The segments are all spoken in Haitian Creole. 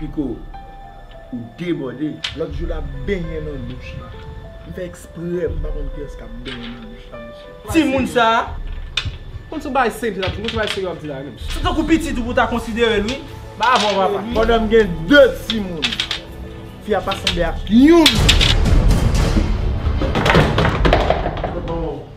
Pico ou debòde. Lòt jou lap benyen nan douch la. M fè eksprè m pa konn kiyès kap benyen nan douch la mesye. Timoun sa Konn sou bagay serye lap di konn sou bagay serye wap di la wi menm. Se tankou pitit ou pou ta konsiderel wi Ba avèw papa. Pandan m gen 2 timoun. Fi a pa sanble ak youn.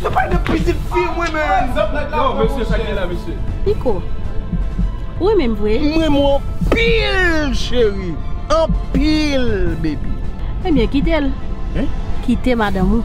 Yo pale de pitit fi mwen menm. Yow mesye sak gen la mesye. Piko Ou renmen m vre. M renmen w anpil cheri. Anpil baby. Ebyen kite l. Kite madanm ou.